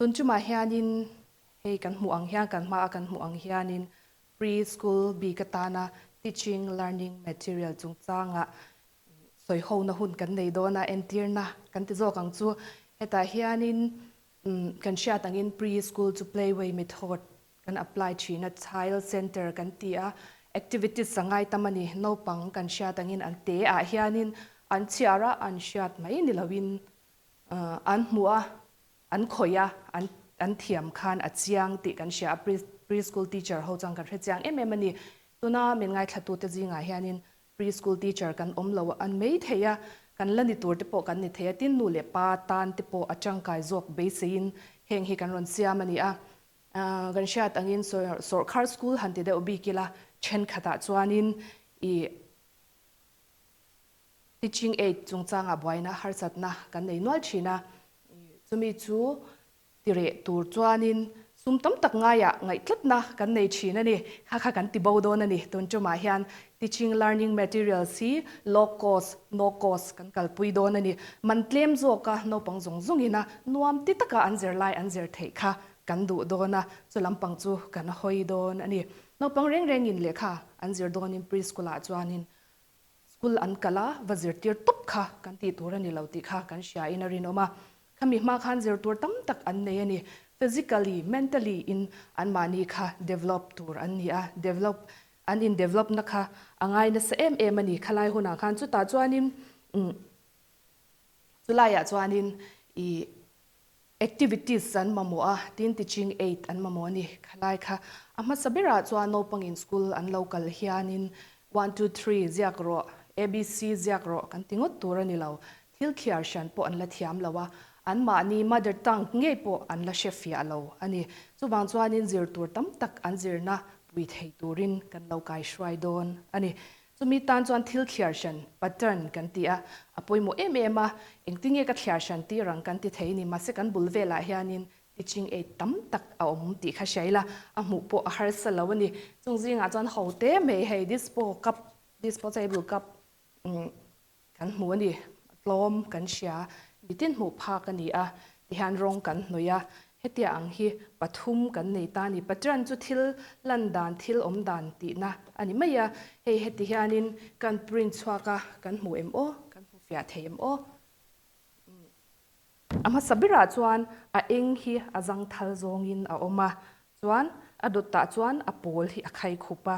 Tun chumah hianin hei kan hmuh ang hian kan hmaa kan hmuh ang hianin Pre-school bik atana Teaching Learning Material chungchanga sawihona hun kan nei dawn a, entirna kan ti zawk ang chu. Hetah hianin kan hriat angin Pre-school chu Playway method kan apply thin a, Child Centre kan ti a, Activities a ngai tam a ni. Naupang kan hriat angin an te ah hianin an chhiar a, an hriat mai ni loin An hmu a, an khawih a, an an thiam khan a chiang tih kan hria a, pre preschool teacher ho chuan kan hre chiang em em a ni. Tuna min ngaithlatute zingah hianin preschool teacher kan awm lo a mai thei a, kan la ni tur te pawh kan ni thei a, tin nu leh pa tan te pawh a tangkai zawk beiseiin heng hi kan rawn siam a ni a. Kan hriat angin sawr sawrkhar school han ti deuh bik ila thenkhatah chuanin i. Teaching Aid chungchanga buaina harsatna kan nei nual thin a, chumi chu ti reh tur chuanin sum tam tak ngaiah ngaihtlatna kan nei thin a ni. Kha kha kan ti bo dawn a ni, tun tumah hian teaching learning materials hi low cost, no cost kan kalpui dawn a ni. Man tlem zawka naupang zawng zawngina nuam ti taka an zirlai an zir theih kha kan duh dawn a, chu lampang chu kan hawi dawn a ni. Naupang reng rengin lehkha an zir dawnin preschool-ah chuanin School an kalh a, va zirtir tawp kha kan tih tur a ni lo tih kha kan hria in a rinawm a. Khami hma khan zirtur tam tak an nei a ni. Physically, mentally in an mahni kha develop tur an ni a. Develop, an in develop na kha a ngai nasa em em a ni. Khalai hunah khan chutah chuan in, umm, chu laiah chuan in ih, Activities an mamawh a, tin Teaching Aid an mamawh a ni. Khalai kha a hmasa berah chuan naupangin school an lo kal hianin one two three ziak rawh, ABC ziak rawh kan ti ngawt tur a ni lo. Thil thiar hrian pawh an la thiam lo a, anmahni mother tongue ngei pawh an la hrefiah lo a ni. Chuvang chuanin zir tur tam tak an zirna pui thei turin kan lo kaihruai dawn a ni. Chumi tan chuan thil thliar hran, pattern, kan ti a, a pawimawh em em a, engtinge ka thliar hran tih rang kan ti thei ni, mahse kan bul velah hianin teaching aid tam tak a awm tih kha hria ila, a hmuh pawh a harsa lo a ni. Chung zingah chuan haw te mai hei dispo cup, disposable cup, Kan hmu a ni. Tlawm kan hria, bitin hmuh phak a ni a, tihian rawng kan hnawih a. Hetia ang hi pathum kan nei ta a ni. Pathian chu thil lan dan, thil awm dan tihna a ni mai a. Hei heti hianin kan print chhuak a, kan hmu em aw, kan hmu fiah thei em aw. A hmasa berah chuan a eng hi a zangthal zawngin a awm a, chuan a dawt ah chuan a pawl hi a khai khup a.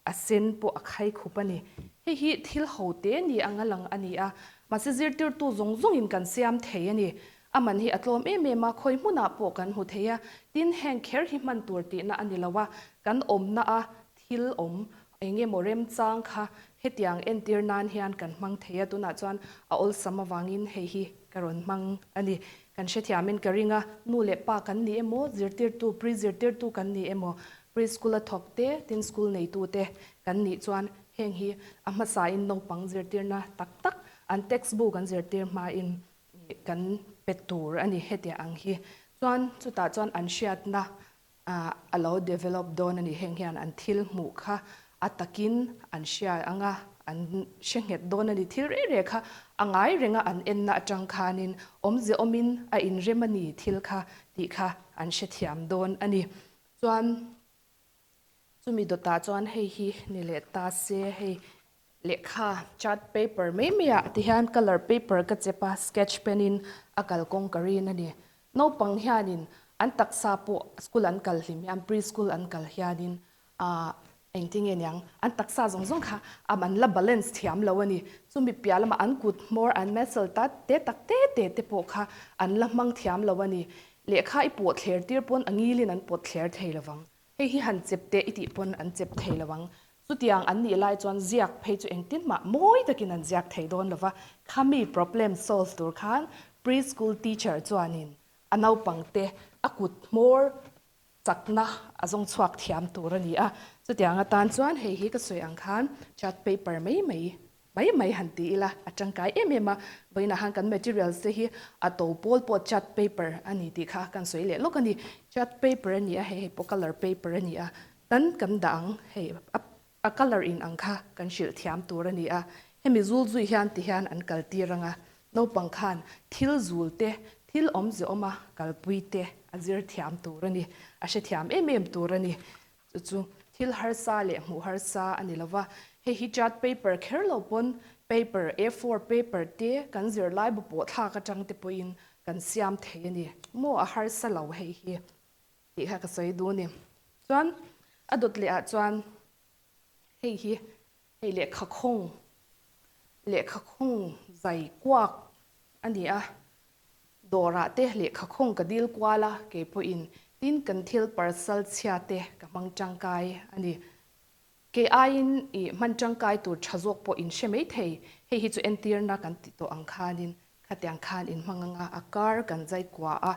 A sen pawh a khai khup a ni. Hei hi thil ho te ni ang a lang a ni a, mahse zirtirtu zawng zawngin kan siam thei a ni. A man hi a tlawm em em a, khawi hmunah pawh kan hmu thei a, tin heng kher hi hman tur tihna a ni lo a, kan awmna a thil awm eng emaw remchang kha hetiang entir nan hian kan hmang thei a, tunah chuan a awlsam avangin hei hi ka rawn hmang a ni. Kan hrethiamin ka ring a, nu leh pa kan ni emaw, zirtirtu, pre zirtirtu kan ni emaw, Pre-school a thawk te tin school neitu te kan nih chuan heng hi a hmasa in naupang zirtirna tak tak an text book an zirtir hma in kan pe tur a ni hetia ang hi chuan chutah chuan an hriat na a lo develop dawn a ni heng hian an thil hmuh kha a tak in an hria ang a an hre nghet dawn a ni thil reh reh kha a ngai reng a an en na atang khan in awmze awm in a in rem a ni thil kha tih kha an hre thiam dawn a ni Chuan chumi dawtah chuan hei hi ni leh ta se hei lehkha chart paper mai mai ah ti hian colour paper ka chep a sketch pen in a kal kawng ka rin a ni. Naupang hianin an taksa pawh school an kal hlim hian preschool an kal hianin ahh Engti nge niang, an taksa zawng zawng kha a man la balance thiam lo a ni. Chumi piah lamah an kut hmawr an messel ta te tak te te te pawh kha an la hmang thiam lo a ni. Lehkha i pawh thler tir pawn a ngilin an pawt thler thei lo vang. Hei hi han chep teh i tih pawn an chep thei lo vang. Chutiang an nih lai chuan ziak phei chu engtin mah mawi takin an ziak thei dawn lo va. Khami problem solve tur khan Pre-school teacher chuanin a naupangte a kut hmawr chakna a zawng chhuak thiam tur a ni a, chutiang atan chuan hei hi ka sawi ang khan chart paper mai mai mai mai han ti ila a tangkai em em a, vawiin ahan kan materials te hi a to pawl pawh chart paper a ni tih kha kan sawi leh lawk a ni, chart paper a ni a hei hi pawh color paper a ni a, tan kan dah ang hei a A colour in ang kha kan hrilh thiam tur a ni a, hemi zul zui hian ti hian an kal tir ang a, naupang khan thil zul te, thil awmzehawm a kalpui te a zir thiam tur a ni, a hre thiam em em tur a ni. Chu chu thil harsa leh hmuh harsa a ni lo va, hei hi chart paper kher lo pawn paper a four paper te kan zirlaibu pawhthlak atang te pawhin kan siam thei a ni. Maw a harsa lo hei hi. Tih kha ka sawi duh a ni. Chuan a dawt leh ah chuan hei hi hei lehkha khawng lehkha khawng zai kuak a ni a, dawr ah te lehkha khawng ka dil kual a, kei pawh in tin kan thil parsal chhia te ka hmang tangkai a ni. Kei aiin i hman tangkai tur tha zawk pawh in hre mai thei. Hei hi chu entirna kan tih tawh ang khanin khatiang khan in hmang anga a kar kan zai kua a.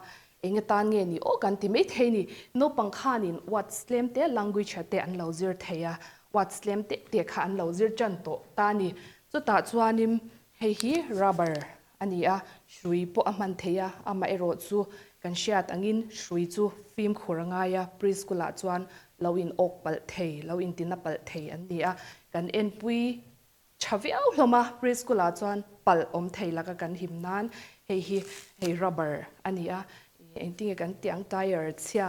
Enge tan nge ni aw kan ti mai thei ni. Naupang khanin words tlem te language te an lo zir thei a. Words tlem teh teh kha an lo zir tan tawh ta ni. Chutah chuanin Hei hi rubber a ni a, hrui pawh a hman thei a, amaherawh chu kan hriat angin hrui chu fimkhur a ngai a, preschool ah chuan lo in awk palh thei, lo in tina palh thei an ni a, kan enpui tha viau hlawm a, preschool ah chuan palh awm thei laka kan him nan hei hi hei rubber a ni a, engtinge kan tih ang tyre chhia,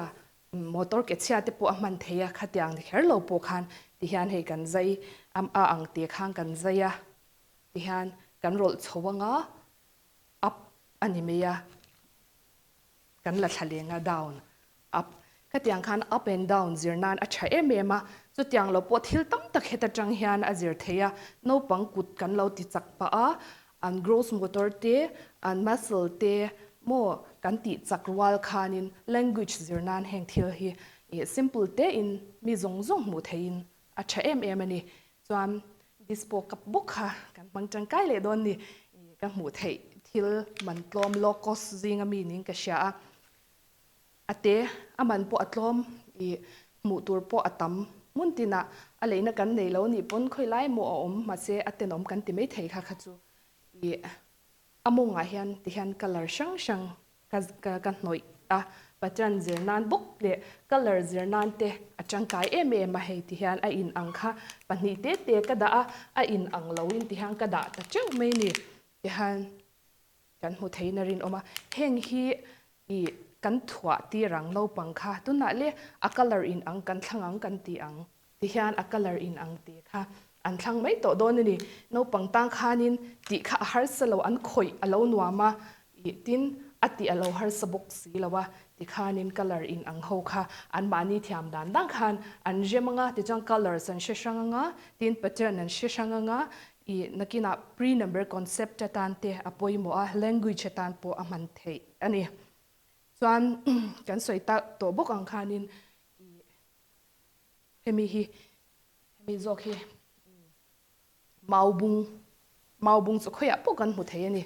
motor ke chhia te pawh a hman thei a, khatiang ni kher lo pawh khan tihian hei kan zai a ang tih khan kan zai a. Ti hian kan rawlh chho anga up a ni mai a, kan la thla leng a down, up. Khatiang khan up and down zir nan a tha em em a, chutiang lo pawh thil tam tak heta tang hian a zir thei a, naupang kut kan lo ti chak pah a, an growth motor te, an muscle te maw kan tih chak rual khanin language zir nan heng thil hi simple tein mi zawng zawng hmuh theihin A tha em em a ni. Chuan this pawh kap bawk kha kan hmang tangkai leh dawn ni. Ih ka hmuh theih thil man tlawm low cost zinga mi niin ka hria a. A te a man pawh a tlawm ih hmuh tur pawh a tam. Hmun tinah a leina kan nei lo nih pawn khawi lai maw a awm mahse a tenawm kan ti mai thei kha kha chu. Ih a mawngah hian tihian colour hrang hrang Ka ka ka hnawih a pattern zir nan bawk leh colour zir nan te a tangkai em em a hei ti hian a in ang kha pahnih te te ka dah a a in ang lo in ti hian ka dah ta teuh mai ni ti hian kan hmu thei na rin awm a heng hi i kan thuah tir ang naupang kha tunah le a colour in ang kan thlang ang kan ti ang. ti hian a colour in ang te kha an thlang mai tawh dawn a ni. Naupang tang khanin tih kha a harsa lo an khawih a lo nuam a ih tin a tih a lo harsa bawk si lo a ti khanin colour in ang ho kha an mahni thiam dan dan khan an hre mang a tichuan colours an hre hrang ang a tin pattern an hre hrang ang a ih nakina pre number concept atan te a pawimawh a language atan pawh a hman theih a ni chuan kan sawi ta tawh bawk ang khanin ih Hemi hi, hemi zawk hi mau bung, mau bung chu khawiah pawh kan hmu thei a ni.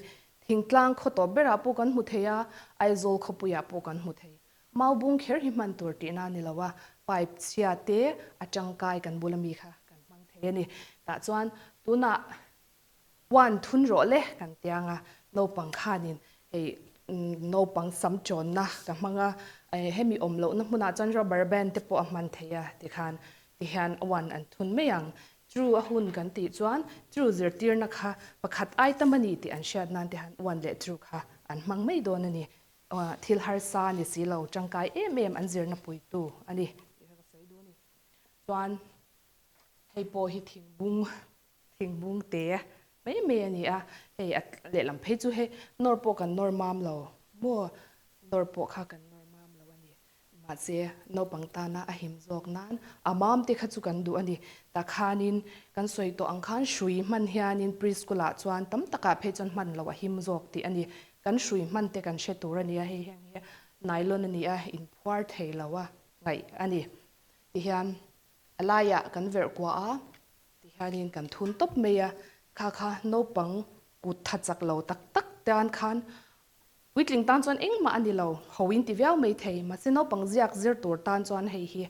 Thingtlang khaw tawp berah pawh kan hmu thei a, Aizawl khawpuiah pawh kan hmu thei. Mau bung kher hi hman tur tih na a ni lo a, pipe chhia te a tangkai kan bula mi kha kan hmang thei a ni. Tah chuan tunah Huan thun rawh le kan ti ang a, naupang khanin hei naupang sam chawnna ka hmang a, hemi awm lohna hmunah chuan rubber band te pawh a hman thei a ti khan ti hian huan an thun mai ang. True a hun kan tih chuan true zirtirna kha pakhat ai tam a ni tih an hriat nan te hian huan leh true kha an hmang mai dawn a ni. Thil harsa a ni si lo, tangkai em em an zirna puitu a ni. Tih kha ka sawi dun a ni. Chuan hei pawh hi thingbung Thingbung te mai mai a ni a, hei a lehlam phei chu hei nawr pawh kan nawr mam lo maw? Nawr pawh kha kan nawr mam lo a ni. Mahse naupang tana a him zawk nan a mam te kha chu kan duh a ni. Tah khanin kan sawi tawh ang khan hrui hman hianin Preschool ah chuan tam takah phei chuan hman loh a him zawk tih a ni. Kan hrui hman te kan hre tur a ni a, hei heng hi nylon a ni a, inphuar thei lo a ngaih a ni. Tihian a laiah kan verh kuah a. Ti hianin kan thun tawp mai a, kha kha naupang kut tha chak lo tak tak te an khan puitling tan chuan engmah a ni lo, ho in ti viau mai thei, mahse naupang ziak zir tur tan chuan hei hi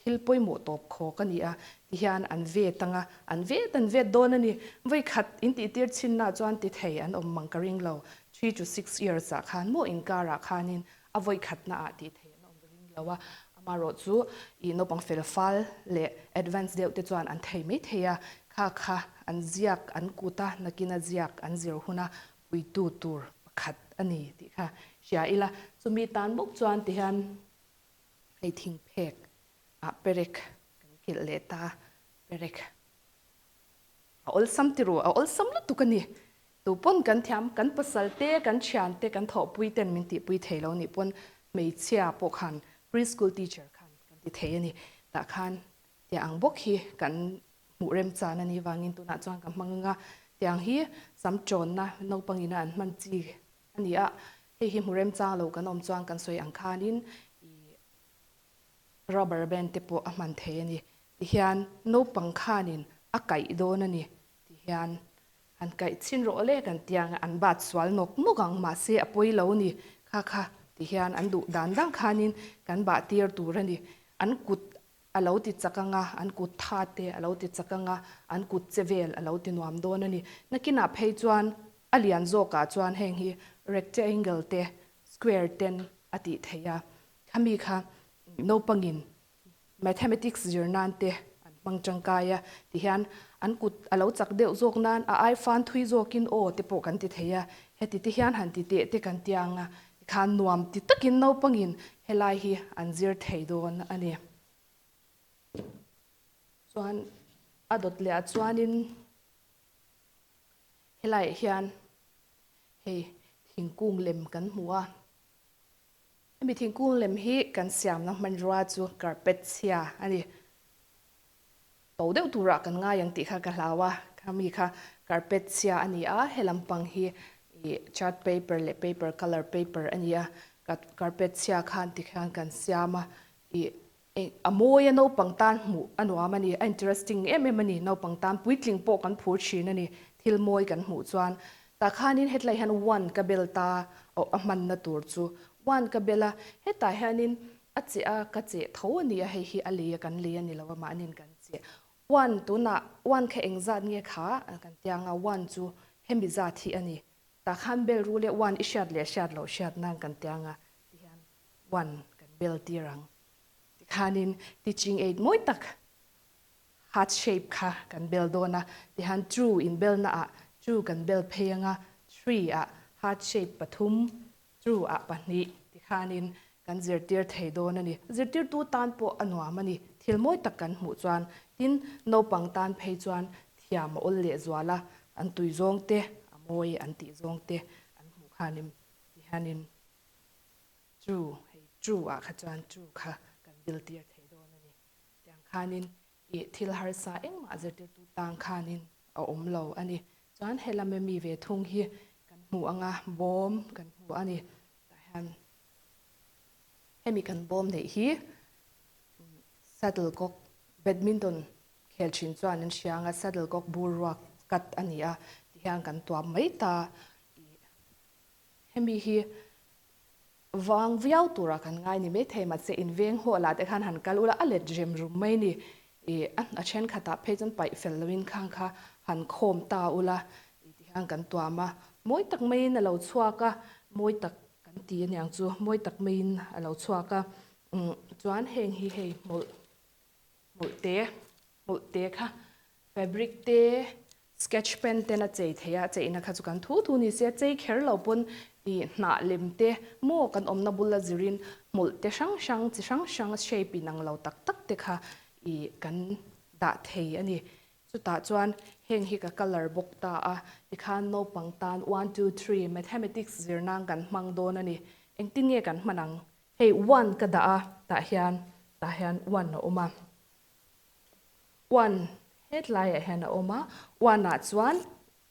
thil pawimawh tawp khawk a ni a, ti hian an vet ang a, an vet an vet dawn a ni. Vawikhat in tihtir chinna chuan ti thei an awm mang ka ring lo, three to six years ah khan maw inkarah khanin A vawi khatna ah tih theih an awm ve ding lo a, amah rawh chu ih naupang felfal leh advance deuh te chuan an thei mai thei a, kha kha an ziak an kut a, nakin a ziak an zir hun a puitu tur pakhat a ni tih kha hria ila, chumi tan bawk chuan ti hian hei thingphek ah perek kan kilh leh ta, perek a awlsam ti ru, a awlsam lutuk a ni Chu pawn kan thiam, kan pasal te, kan thian te, kan thawhpui ten min tihpui thei lo nih pawn hmeichhia pawh khan pre-school teacher khan kan ti thei a ni. Tah khan tia ang bawk hi kan hmuh remchan a ni vangin tunah chuan ka hmang anga tia ang hi sam tawnna naupang ina an hman chi a ni a, hei hi hmu remchang lo kan awm chuan kan sawi ang khanin i rubber band te pawh a hman thei a ni ti hian naupang khanin a kaih dawn a ni ti hian Han kaih chin rawh le kan tiang an bat sual nawk nawk ang mahse a pawi lo ni kha kha ti hian an duh dan dang khanin kan bah tir tur a ni. An kut a lo ti chak ang a, an kut tha te a lo ti chak ang a, an kut che vel a lo ti nuam dawn a ni. Nakinah phei chuan a lian zawkah chuan heng hi rectangle te square ten a tih theih a, khami kha naupangin Mathematics zir nan te an hmang tangkai a, ti hian an kut a lo chak deuh zawk nan a aifan thui zawkin aw te pawh kan ti thei a, heti te hian han ti teh te kan tia anga tikhan nuam ti takin naupangin helai hi an zir thei dawn a ni. Chuan a dawt leh ah chuanin helaiah hian hei thingkung lem kan hmu a, Hemi thingkung lem hi kan siamna hmanrua chu carpet chhia a ni. Tho deuh turah kan ngai ang tih kha ka hlau a, khami kha carpet chhia a ni a, helam pang hi ih chart paper leh paper colour paper a ni a, car carpet chhia khan tikhian kan siam a, ih Eng a mawi a naupang tan hmuh a nuam a ni a interesting em em a ni naupang tan puitling pawh kan phur thin a ni thil mawi kan hmuh chuan tah khanin hetlai hian one ka bel ta awh a hman na tur chu one ka bel a hetah hianin a che a ka che tho a ni a hei hi a lei a kan lei a ni lo a mahnin kan che one tunah one kha eng zat nge kha a kan tia anga one chu hemi zat hi a ni tah khan bel rule one i hriat leh hriat lo hriat nan kan tia anga ti hian huan kan bel tir ang. Tikhanin teaching aid mawi tak heart shape kha kan bel dawn a, tihan two in belnaah two kan bel phei anga three ah heart shape pathum, two ah pahnih tikhanin kan zirtir thei dawn a ni. Zirtirtu tan pawh a nuam a ni, thil mawi tak kan hmuh chuan. Tin, naupang tan phei chuan thiam a awl lehzual a, an tuizawng te a mawi an tih zawng te an hmuh khanim tihanin Chu, hei chu ah kha chuan chu kha kan biltir thei dawn a ni. Tiang khanin i thil harsa engmah zirtirtu tang khanin a awm lo a ni. Chuan he lama mi ve thung hi kan hmu anga bawm kan hmu a ni. Tah hian hemi kan bawm neih hi shuttlecock, badminton khel thin chuan an hria anga shuttlecock bur ruak kat a ni a ti hian kan tuam mai ta. I Hemi hi vang viau tura kan ngai ni mai thei mahse in veng haw lah te khan han kal ula a let rem rum mai ni i a then khatah phei chuan paih fel loin khang kha han khawm ta ula i ti khan kan tuam a mawi tak maiin a lo chhuak a mawi tak kan ti aniang chu mawi tak maiin a lo chhuak a umm chuan heng hi hei hmawlh hmawlh te hmawlh te kha Fabric te, sketch pen ten a chei thei a, cheina kha chu kan thu thu ni se, chei kher lo pawn i hnah lem te maw kan awmna bula zirin hmawlh te hrang hrang chi hrang hrang shape inang lo tak tak te kha i kan dah thei a ni. Chutah chuan heng hi ka colour bawk ta a, ti khan naupang tan one two three mathematics zir nan kan hmang dawn a ni, engtin nge kan hman ang? Hei one ka dah a, tah hian tah hian one a awm a, One hetlaiah hian a awm a, one ah chuan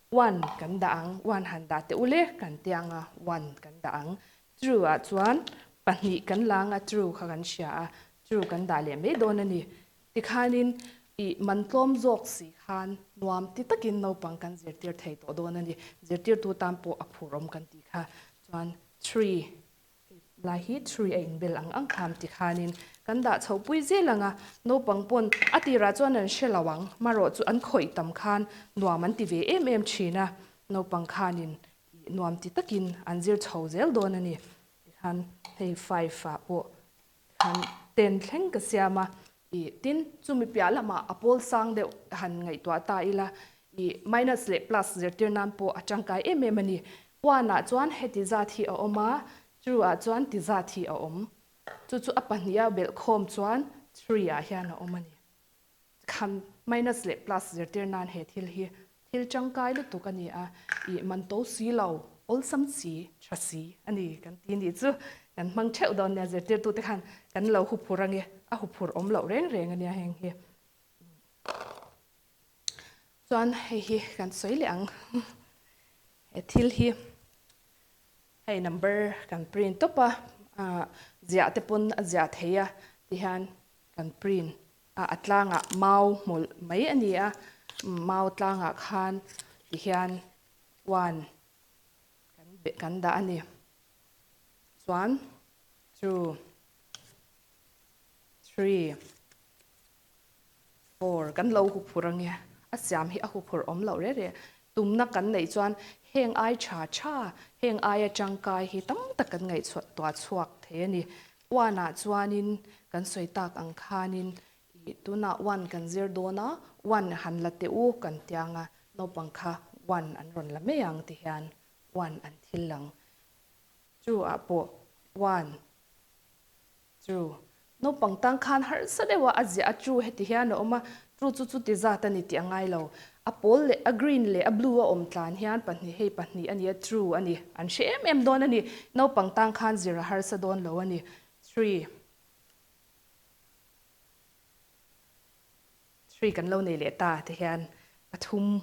one kan dah ang, one han dah teh ule kan tih ang a, one kan dah ang. True ah chuan pahnih kan la ang a, true kha kan hria a, true kan dah leh mai dawn a ni. Tikhanin ih man tlawm zawk si khan nuam ti takin naupang kan zirtir thei tawh dawn a ni. Zirtirtu tan pawh a phurhawm kan tih kha. Chuan three. Lai hi three a inbel ang ang kham ti khanin kan dah chhoh pui zel ang a, naupang pawn a tirah chuan an hre lo ang, marawh chu an khawih tam khan nuam an ti ve em em thin a, naupang khanin nuam ti takin an zir chho zel dawn a ni, tikhan hei five ah pawh Han ten thleng ka siam a, ih, tin, chumi piah lamah a pawl sang deuh han ngaihtuah ta ila, ih, minus leh plus zirtir nan pawh a tangkai em em a ni. Puanah chuan heti zat hi a awm a, True-ah chuan ti zat hi a awm. Chu chu a pahniha belhkhawm chuan Tree-ah hian a awm a ni. Khan, minus leh plus zirtir nan he thil hi thil tangkai lutuk a ni a, ih man to si lo, awlsam si, tha si a ni kan ti nih chu kan hmang theuh dawn nia, zirtirtute khan kan lo huphur ange, a huphur awm loh reng reng a nia heng hi. Chuan hei hi kan sawi leh ang, he thil hi hei number kan print tawp a, ziah te pawn a ziah thei a ti hian Kan print a a tlangah mau hmawlh mai a ni a, mau tlangah khan tihian one kan beh kan dah a ni. Chuan chu three four kan lo hu phur ange, a siam hi a hu phur awm loh reh reh. Tumna kan neih chuan heng ai tha tha, heng aia tangkai hi tam tak kan ngaihtuah chhuak thei a ni. Uanah chuanin kan sawi tak ang khanin ih tunah uan kan zir dawn a, uan han la teh u kan ti anga naupang kha uan an rawn la mai ang ti hian uan an thil ang. Chu ah pawh uan chu naupang tan khan harsa deuha a ziah a chu heti hian a awm a, Chu chu chuti zat a ni tih a ngai lo. A pawl leh a green leh a blue a awm tlan hian pahnih hei pahnih a nia true a ni. An hre em em dawn a ni. Naupang tang khan zir a harsa dawn lo a ni. Three. Three kan lo nei leh ta te hian pathum.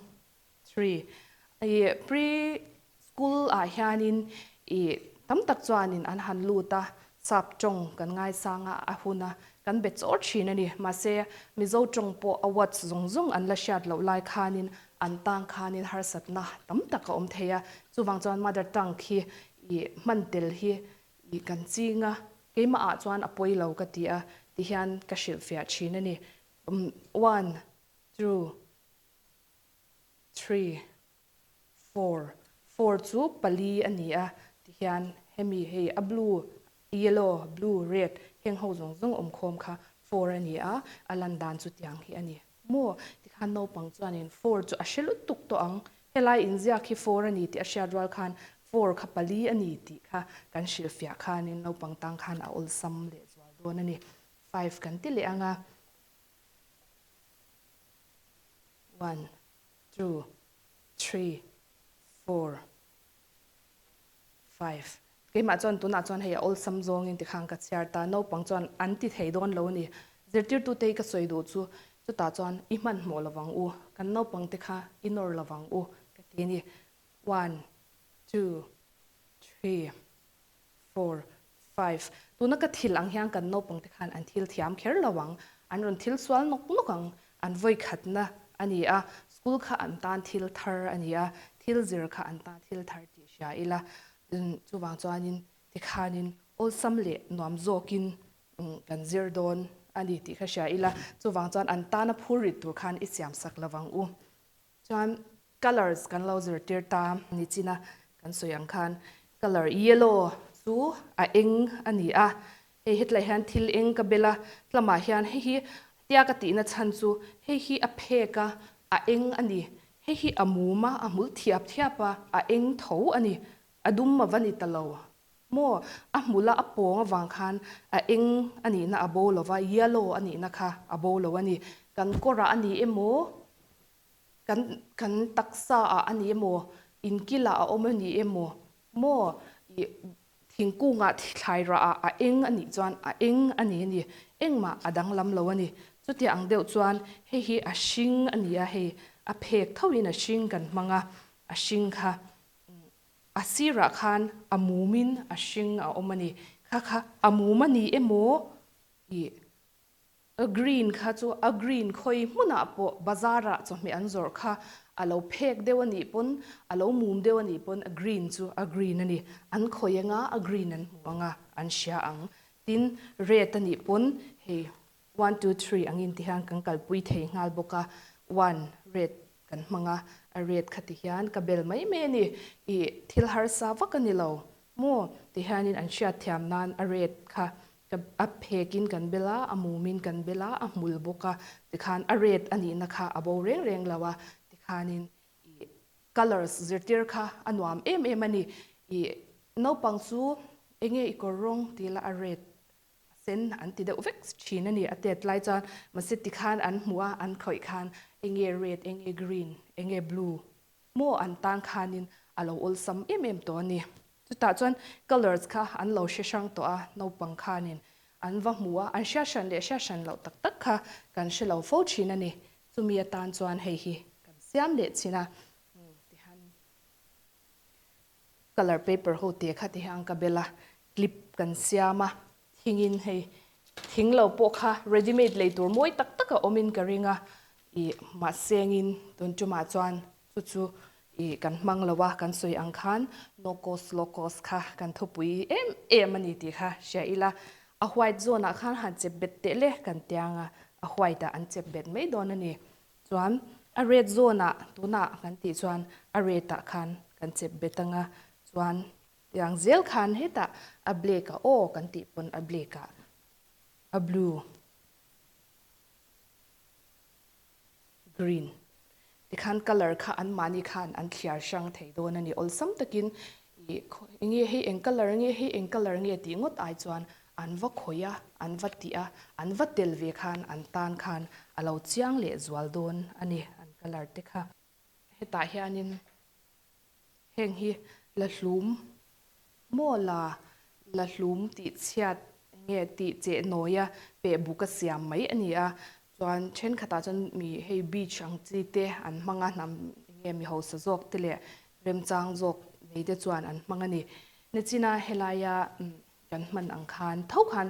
Three, I pre school ah hianin i tam tak chuanin an han lut a, sap tawng kan ngaisang a, a hun a, kan be chawr thin a ni. Mahse, Mizo tawng pawh awards zawng zawng an la hriat loh lai khanin an tang khanin harsatna tam tak a awm thei a, chuvang chuan mother tongue khi i hman tel hi i kan ching a, keimah ah chuan a pawi lo ka ti a ti hian ka hrilhfiah thin a ni. One, two. Three, four, four chu pali a ni a, ti hian hemi hei a blue, yellow, blue, red heng ho zawng zawng awm khawm kha four a ni a, a lan dan chu tiang hi a ni maw? Ti khan naupang chuanin four chu a hre lutuk tawh ang, helai inziak hi four a ni tih a hriat rual khan four kha pali a ni tih kha kan hrilh fiah khanin naupang tang khan a awlsam leh zual dawn a ni. Five kan ti leh ang a. one two three four five keimah chuan tunah chuan hei a awlsam zawngin tikha an ka chhiar ta naupang chuan an ti thei dawn lo a ni zirtirtute i ka sawi duh chu chutah chuan i hmanhmawh lo vang u kan naupangte kha i nawr lo vang u ka ti a ni one two three four, five, tuna ka thil ang hian kan naupangte khan an thil thiam kher lo ang, an rawn thil sual nawk nawk ang, an vawi khatna a ni a, school kha an tan thil thar a ni a, thil zir kha an tan thil thar tih hria ila, chuvang chuanin tikhanin awlsam leh nuam zawkin kan zir dawn a ni tih kha hria ila, chuvang chuan an tana phur rit tur khan i siam sak lo vang u. Chuan colours kan lo zirtir ta ni china kan sawi ang khan colour yellow chu a eng a ni a, hei hetlai hian thil eng ka bel a, tlamah hian hei hi tia ka tihna chhan chu hei hi a phek a, a eng a ni, hei hi a mum a, a hmul thiap thiap a, a eng tho a ni, a dum mava ni ta lo Maw? A hmula a pawng avang khan a eng a nihna a bo lo va, yellow a nihna kha a bo lo a ni. Kan kawrah a ni emaw, kan kan taksaah a ni emaw, inkilah a awm a ni emaw, maw? I thingkungah thlai rahah a eng a nih chuan a eng a ni a ni. Engmah a danglam lo a ni. Chutiah ang deuh chuan hei hi a hring a ni a, hei a phek thauhin a hring kan hmang a, a hring kha A sirah khan a mumin a hring a awm a ni. Kha kha a mum a ni emaw? Ih. A green kha chu a green khawi hmunah pawh bazar ah chawhmeh an zawrh kha a lo phek deuh a nih pawn, a lo mum deuh a nih pawn a green chu a green a ni. An khawi anga a green an hmu anga an hria ang. Tin red a nih pawn hei One two three ang in ti hian kan kalpui thei nghal bawk a, one red kan hmang a, a red kha ti hian ka bel mai mai a ni, i thil harsa vak a ni lo maw ti hian in an hriat thiam nan a red kha a phek in kan bel a, a mum in kan bel a, a hmul bawk a, ti khan a red a nih na kha a bo reng reng lo a, ti khan in i colours zirtir kha a nuam em em a ni, i naupang chu enge i kawr rawng ti ila a red a sen an ti deuh vek thin a ni, a tet lai chuan mahse ti khan an hmu a, an thlawih khan enge red, enge green, enge blue maw an tan khanin a lo awlsam em em tawh a ni. Chutah chuan colours kha an lo hre hrang tawh a, naupang khanin an va hmu a, an hriat hran leh hriat hran loh tak tak kha kan hre lo fo thin a ni, chumi atan chuan hei hi kan siam leh chhin a ti han Colour paper ho te kha ti hian an ka bel a, clip kan siam a, thingin hei thing lo pawh kha ready made lei tur mawi tak tak a awmin ka ring a, ih mahse angin tun tumah chuan chu chu ih kan hmang lo a, kan sawi ang khan no cost low cost kha kan thawpui em em a ni tih kha hria ila, a white zawnah khan han chep bet tehle kan tia anga a white ah an chep bet mai dawn a ni. Chuan a red zawnah tunah kan tih chuan a red ah khan kan chep bet ang a, chuan tiang zel khan hetah a black a aw kan tih pawn a black ah a blue, green te khan colour kha an mahni khan an thliar hrang thei dawn a ni awlsam takin ih eng nge hei eng colour nge hei eng colour nge tih ngawt ai chuan an va khawih a, an va tih a, an va tel ve khan an tan khan a lo chiang leh zual dawn a ni an colour te kha. Hetah hianin heng hi la hlum maw la, la hlum tih chhiat nge tih cheh nawia peh buk a siam mai a ni a, chuan thenkhatah chuan mi hei beach ang chi te an hmang a, hnam enge mi hausa zawk te leh remchang zawk nei te chuan an hmang a ni. Nichina helaia kan hman ang khan tho khan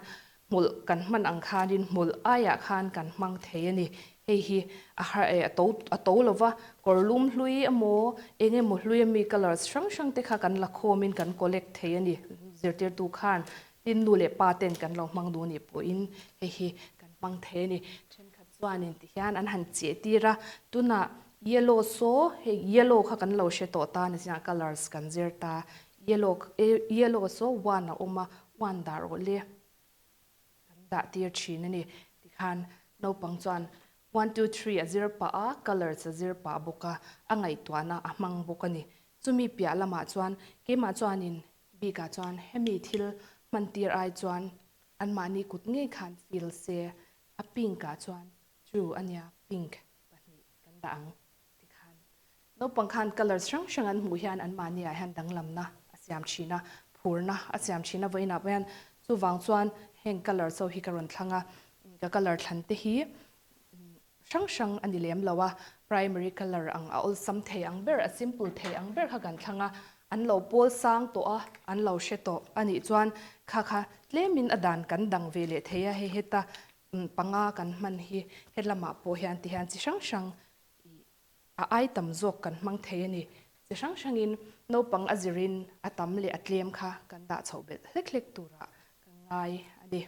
hmulh kan hman ang khanin hmulh aiah khan kan hmang thei a ni. Hei hi a har eh a to a to lo va, kawrlum hlui emaw eng emaw hlui ami colours hrang hrang te kha kan la khawmin kan collect thei a ni. Zirtirtu khan tin nu leh pa ten kan lo hmang duh anih pawhin hei hi kan hmang thei a ni. Thenkhat chuanin tihian an han cheh tir a, tunah yellow saw hei yellow kha kan lo hre tawh ta nizinah colours kan zir ta, Yellow e, yellow saw one a awm a, one dah rawh le, kan dah tir thin a ni. Tikhan naupang chuan one, two, three a zir pah a, colours a zir pah bawk a, a ngaihtuahna a hmang bawk a ni. Chumi piah lamah chuan keimah chuanin Bika chuan hemi thil hman tir ai chuan anmahni kut ngei khan feel se a, pink-ah chuan true a nia, pink pahnih kan dah ang. tikhan naupang khan colour hrang hrang an hmuh hian anmahniah hian danglamna a siam thin a, phurna a siam thin a, vawiinah pawh hian chuvang chuan heng colour chaw hi ka rawn thlang a, ka colour thlan te hi hrang hrang a ni lem lo a, primary colour ang a awlsam thei ang ber, a simple thei ang ber kha kan thlang a, an lo pawl sang tawh a, an lo hre tawh a nih chuan kha kha tlemin a dan kan dang ve leh thei a, hei heta panga kan hman hi helamah pawh hian tihian chi hrang hrang tih a ai tam zawk kan hmang thei a ni. Chi hrang hrangin naupang a zirin a tam leh a tlem kha kan dah chhoh belh hlek hlek tura kan ngai a ni.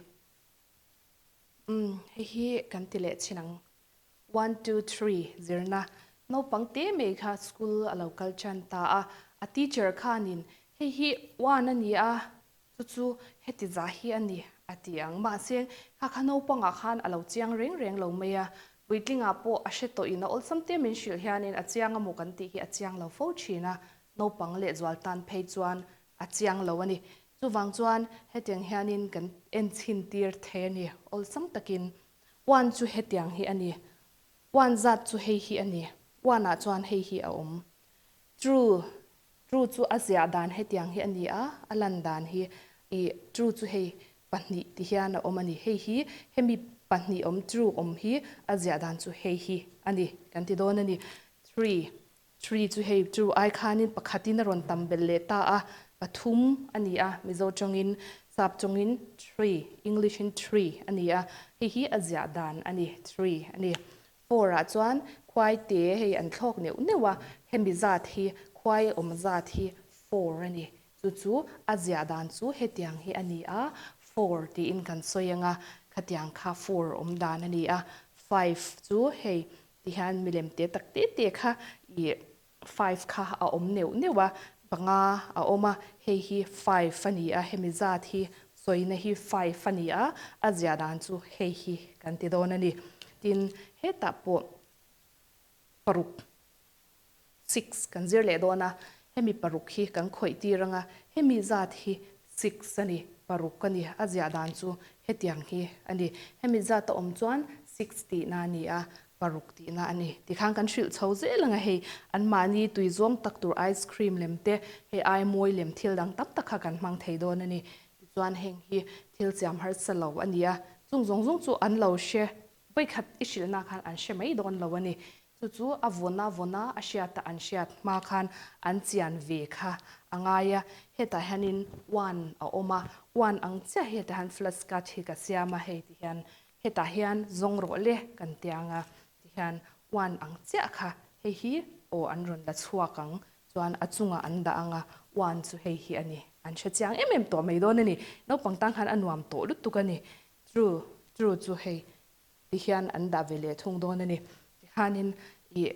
Umm, hei hi kan ti leh chin ang. One, two, three zirna naupang te mai kha school a lo kal tan ta a, a teacher khanin hei hi one a ni a, Chu chu heti za hi a ni, a ti ang. Mahse, kha kha naupangah khan a lo chiang reng reng lo mai a. Puitlingah pawh a hre tawhin a awlsam te min hrilh hianin a chiang a maw kan tih hi a chiang lo fo thin a. Naupang leh zual tan phei chuan a chiang lo a ni. Chuvang chuan hetiang hianin kan en chhin tir thei a ni awlsam takin. Uan chu hetiang hi a ni. Uan zat chu hei hi a ni. Uanah chuan hei hi a awm. True. Ṭu chu a ziah dan hetiang hi a ni a, a lan dan hi i ṭu chu hei pahnih tih hian a awm a ni. Hei hi, hemi pahnih awm ṭu awm hi a ziah dan chu hei hi a ni kan ti dawn a ni. Three, three chu hei ṭu ai khanin pakhatin a rawn tam belh leh ta a, pathum a ni a, Mizo ṭawngin, Sap ṭawngin three, English-in three a ni a, hei hi a ziah dan a ni, three a ni. Phawrah chuan khuai te hei an thlawk neuh neuh a, hemi zat hi khuai awm zat hi phawr a ni. Chu chu a ziah dan chu hetiang hi a ni a, phawr tiin kan sawi anga khatiang kha four awm dan a ni a. Five chu hei ti hian milem te tak te te kha ih Five kha a awm neuh neuh a, panga a awm a, hei hi five a ni a, hemi zat hi sawina hi five a ni a, a ziah dan chu hei hi kan ti dawn a ni. Tin, hetah pawh paruk six kan zir leh dawn a, hemi paruk hi kan khawih tir ang a, hemi zat hi Sikhs a ni, paruk a ni, a ziah dan chu hetiang hi a ni. Hemi zat a awm chuan Sikhs tihna a ni a, paruk tihna a ni. Tikhan kan hrilh chho zel anga hei anmahni tui zawng tak tur ice cream lem te, hei aimawi lem thil dang tam tak kha kan hmang thei dawn a ni. Tichuan heng hi thil siam harsa lo a ni a, chung zawng zawng chu an lo hre vawi khat i hrilhna khan an hre mai dawn lo a ni. Chu chu a vawna vawna a hriat a an hriat hma khan an chian ve kha a ngai a, hetah hianin one a awm a, one ang chiah hi hetah hian flat scratch hi ka siam a hei ti hian hetah hian zawng rawh le kan ti ang a ti hian one ang chiah kha hei hi aw an rawn la chhuak ang chuan a chungah an dah ang a one chu hei hi a ni an hre chiang em em tawh mai dawn a ni naupang tan khan a nuam tawh lutuk a ni true true chu hei Ti hian an dah ve leh thung dawn a ni. Tikhanin i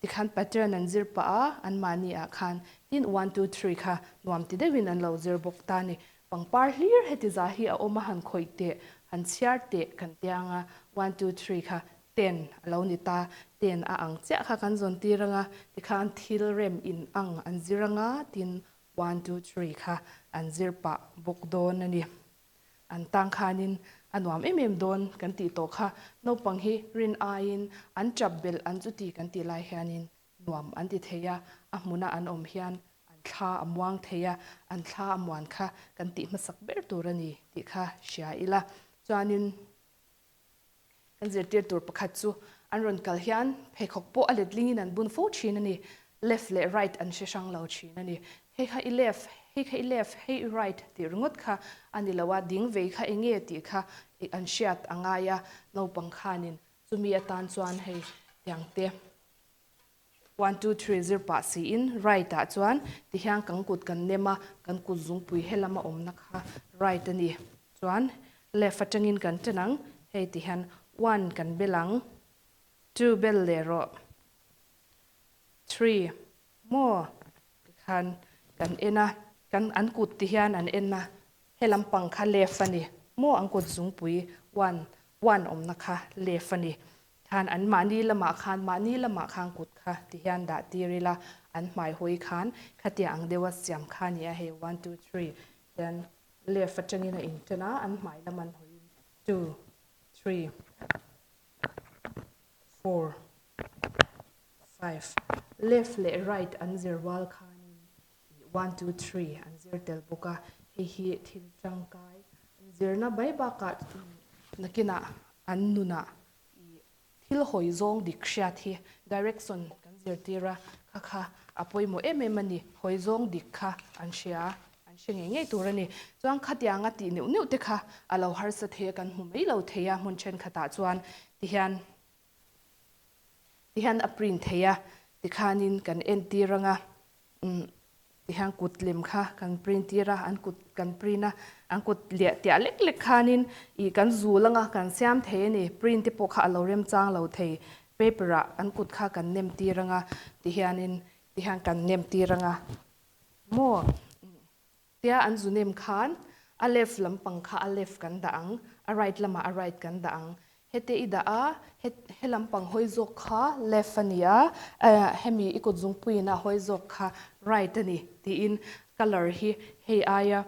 tikhan pattern an zir pah a, anmahni ah khan tin one two three kha nuam ti deuhin an lo zir bawk ta ni. Pangpar hlir heti za hi a awm a han khawih teh, han chhiar teh kan tia ang a, one two three kha ten a lo ni ta. Ten a ang chiah kha kan zawn tir ang a, tikhan thil rem in ang an zir ang a, tin one two three kha an zir pah bawk dawn a ni. An tang khanin a nuam em em dawn kan tih tawh kha, naupang hi rin aiin an tap belh an chu ti kan tih lai hianin nuam an ti thei a, a hmuna an awm hian an thla a muang thei a, an thla a muan kha kan tih hmasak ber tur a ni tih kha hria ila chuanin Kan zirtir tur pakhat chu an rawn kal hian pheikhawk pawh a letlingin an bun fo thin a ni. Left leh right an hre hrang lo thin a ni. Hei kha i left, hei kha i left, hei i right tih ringawt kha a ni lo a, ding vei kha enge tih kha an hriat a ngai a. Naupang khanin chumi atan chuan hei tiangte. One two three zir pah si in right ah chuan ti hian kan kut kan nem a kan kut zungpui helam a awmna kha right a ni chuan left atangin kan chen ang hei ti hian one kan bel ang two bel leh rawh three maw ti khan kan en a kan an kut ti hian an en a helam pang kha left a ni maw an kut zungpui one one awmna kha left a ni Khan an mahni lamah khan mahni lamah khan kut kha ti hian dah tir ila an hmai hawi khan khatia ang deuha siam kha ni a hei one two three hian left atangin a in tan a an hmai lam an hawi in two three four five left leh right an zir rual khanin tih one two three an zir tel bawk a, hei hi thil tangkai zirna bai bakah nakinah an nunah i thil hawi zawng dik hriat hi direction kan zirtir a, kha kha a pawimawh em em a ni, hawi zawng dik kha an hria a, an hre ngei ngei tur a ni. Chuan khatianga tih neuh neuh te kha a lo harsa thei a, kan hmu mai lo thei a hmun thenkhatah chuan ti hian Ti hian a print thei a, tikhanin kan entir ang a, umm ti hian kut lem kha kan print tir a, an kut kan print a, an kut leh tiah lek lek khanin ih kan zul ang a, kan siam thei a ni, print te pawh kha a lo rem chang lo thei, paper ah an kut kha kan nem tir ang a, ti hianin ti hian kan nem tir ang a, maw? Tia an zu nem khan, a left lampang kha a left kan dah ang, a right lamah a right kan dah ang. Hete i dah a, he he lampang hawi zawk kha left a ni a, hemi i kut zungpuiinah hawi zawk kha right a ni tiin colour hi hei aia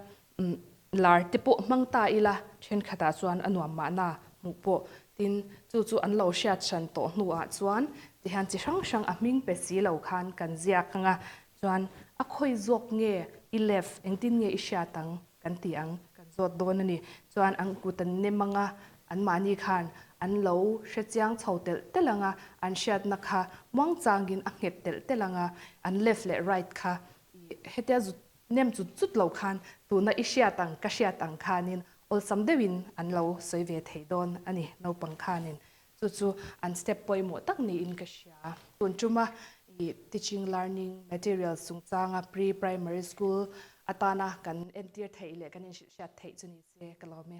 lar te pawh hmang ta ila thenkhatah chuan a nuam mahna hmuh pawh. Tin, chu chu an lo hriathrân tawh hnuah chuan tihian chi hrang hrang a hming pe si lo khan kan ziak ang a, Chuan, A khawi zawk nge i lef, engtin nge i hriat ang? kan tih ang, kan zawt dawn a ni. Chuan an kut an nem ang a, anmahni khan an lo hre chiang chho telh telh ang a, an hriatna kha muangchangin a nghet telh telh ang a, an left leh right kha i hetia zut nem zut zut lo khan tuna i hriat ang, ka hriat ang khanin awlsam deuhin an lo sawi ve thei dawn a ni naupang khanin. Chu chu an step pawimawh tak niin ka hria. Tun tuma i teaching learning materials chungchanga pre primary school atana kan entir theih leh kan inhrilh hriat theih chu ni se ka lawm e.